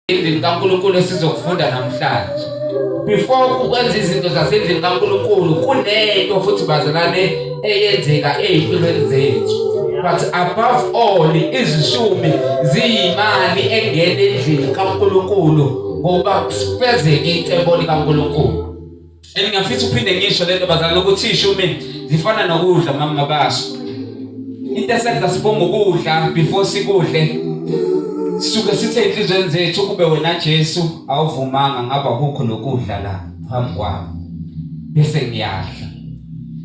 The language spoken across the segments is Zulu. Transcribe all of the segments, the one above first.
endlini kaNkulunkulu esizokufunda namhlanje before ukwenza izinto zasendlini kaNkulunkulu kunento futhi bazalwane eyenzeka ezimpilweni zethu but above all izishumi ziyimali engena endlini kaNkulunkulu ngoba kufezeke icebo likaNkulunkulu And ngiyafisa uphinde ngisho lento bazali ukuthi ishumi zifana nokudla mama baso. Into esenza sibonga ukudla before sikudle. Suke sithe inhlizweni zethu kube wena Jesu awuvumanga ngaba kukho lokudla la phambi kwami. Bese ngiyadla.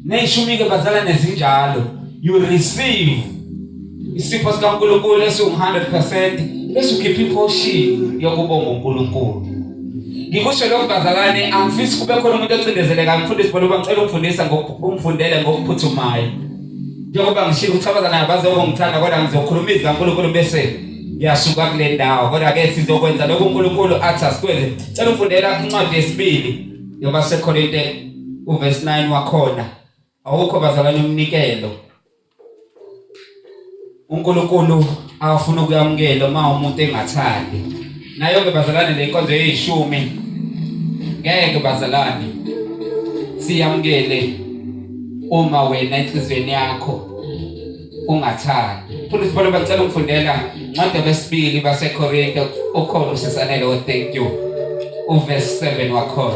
Neyishumi ke bazala nezinjalo you receive Isipho sikaNkulunkulu esiwu-100% bese ukhipha iphoshiyo yokubonga uNkulunkulu. Ngikusho lokho bazalwane, angifisi kube khona umuntu ocindezeleka ngifundisi bona ngicela ukufundisa ngokufundele ngokuphuthumayo. Njengoba ngishilo ukuthi abazana abazobe ngithanda kodwa ngizokhuluma izwi kaNkulunkulu bese ngiyasuka kule ndawo kodwa ke sizokwenza lokho uNkulunkulu athi asikwenze. Cela ufundela incwadi yesibili yoba seKorinte uverse 9 wakhona. Awukho bazalwane umnikelo. UNkulunkulu awufuna ukuyamukela uma umuntu engathandi. Nayo ke bazalwane le nkonzo yeshumi. Ngeke bazalwane siyamukele uma wena enhlizweni yakho ungathandi. Futhi sibona bacela ukufundela ncwadi besibili baseKorinte ukhona usesanele o thank you. Uverse 7 wakhona.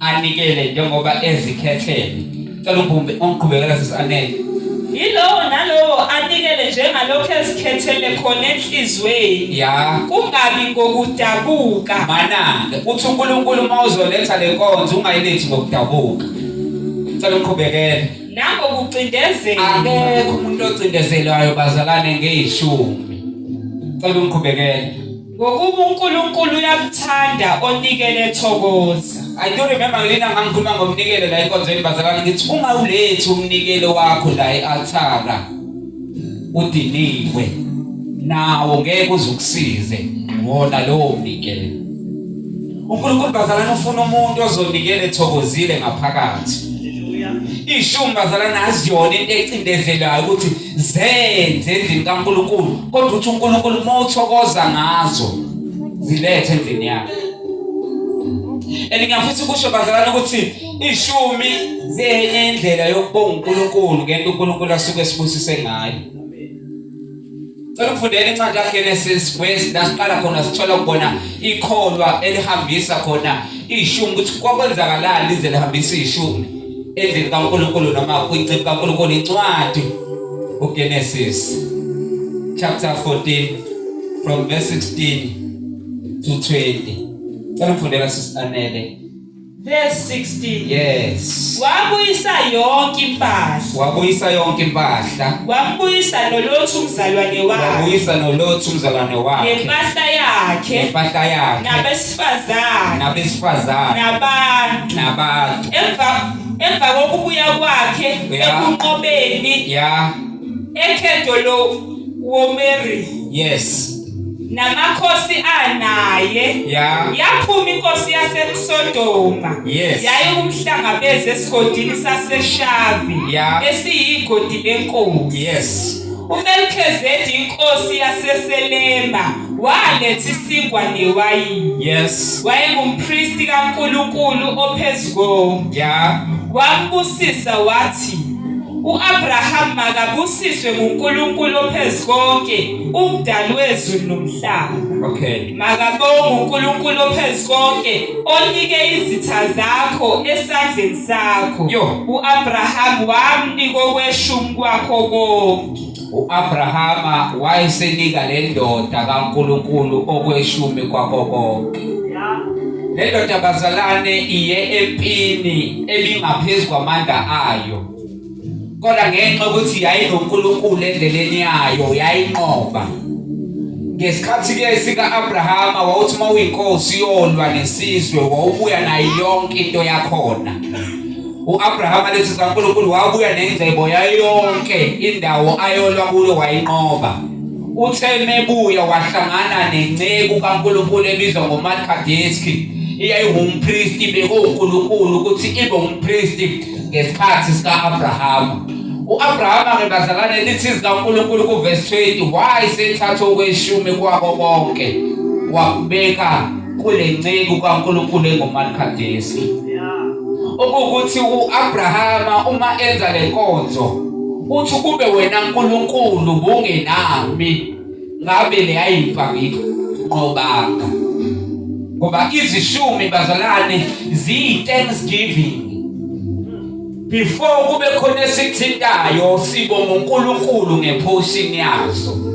anikele njengoba ezikhethele cela ubumbe uqhubekela sisanele yilowo nalowo anikele njengalokho ezikhethele khona enhlizweni ya kungabi ngokudabuka manake uthi uNkulunkulu uma uzoletha le nkonzo ungayilethi ngokudabuka cela uqhubekele nango kucindezela akekho umuntu ocindezelwayo bazalane ngeyishumi cela umqhubekele Ngokuba uNkulunkulu uyakuthanda onikele thokoza. I do remember ngelina ngangikhuluma ngomnikelo la enkonzweni bazalwane ngithi uma ulethu umnikelo wakho la ealtara udiniwe nawo ngeke uzukusize wona lowo mnikelo. uNkulunkulu bazalana ufuna umuntu ozonikela ethokozile ngaphakathi ishumi bazalana aziyona into ecindezelayo ukuthi zenze endlini kaNkulunkulu kodwa uthi uNkulunkulu uma uthokoza ngazo zilethe endlini yakhe and ngiyafisa ukusho bazalana ukuthi ishumi zenye indlela yokubonga uNkulunkulu ngento uNkulunkulu asuke esibusise ngayo Cela ukufundela incwadi kaGenesis kwesi la siqala khona sithola khona ikholwa elihambisa khona ishumi ukuthi kwakwenzakalani lize lihambisa ishumi endlini kaNkulunkulu noma kwincwadi kaNkulunkulu incwadi uGenesis chapter 14 from verse 16 to 20 Cela mfundela sisanele verse 16 yes wabuyisa yonke impahla wabuyisa yonke impahla wambuyisa nolothu umzalwane wakhe wabuyisa nolothu umzalwane wakhe nempahla yakhe nempahla yakhe abesifazane nabesifazane nabantu nabantu emva emva kokubuya kwakhe ekunqobeni ya ekhetho lo womeri yes namakhosi anaye yaphuma inkosi yaseSodoma yayikumhlangabeza esigodini saseShavi esiyigodi lenkosi uMelchizedeki inkosi yaseSelema waletha isinkwa newayini yes wayengumpristi kaNkulunkulu ophezulu yeah wambusisa wathi uAbraham makabusiswe nguNkulunkulu ophezulu konke umdali wezulu nomhlaba okay makabonga uNkulunkulu ophezulu konke onike izitha zakho esandleni sakho uAbraham wamnika okweshumi kwakho konke U-Abrahama wayesenika le ndoda kaNkulunkulu okweshumi kwako konke. Le ndoda bazalwane iye empini ebingaphezu kwamandla ayo. Kodwa ngenxa ukuthi yayinoNkulunkulu endleleni yayo yayinqoba. Ngesikhathi ke sika Abrahama wawuthi mawuyinkosi yolwa nesizwe wawubuya nayo yonke into yakhona. U-Abraham alezwi zikaNkulunkulu wabuya nengcebo yayo yonke indawo ayolwa kulo wayinqoba. Uthe mebuya wahlangana nenceku kaNkulunkulu ebizwa ngoMalkadeski eyayingumpristi bekuwuNkulunkulu ukuthi ibe umpristi ngesikhathi sika-Abrahama. U-Abrahama ngebazalane lithi zikaNkulunkulu kuvesi 20 wayesethatha okweshumi kwako konke wakubeka kule nceku kaNkulunkulu enguMarkadesi okukuthi uAbrahama uma enza lenkonzo uthi kube wena uNkulunkulu bungenami ngabe leyayimpa ngiqobanga ngoba izishumi bazalwane ziyi thanksgiving before kube khona esithintayo sibonga uNkulunkulu ngephoshini yazo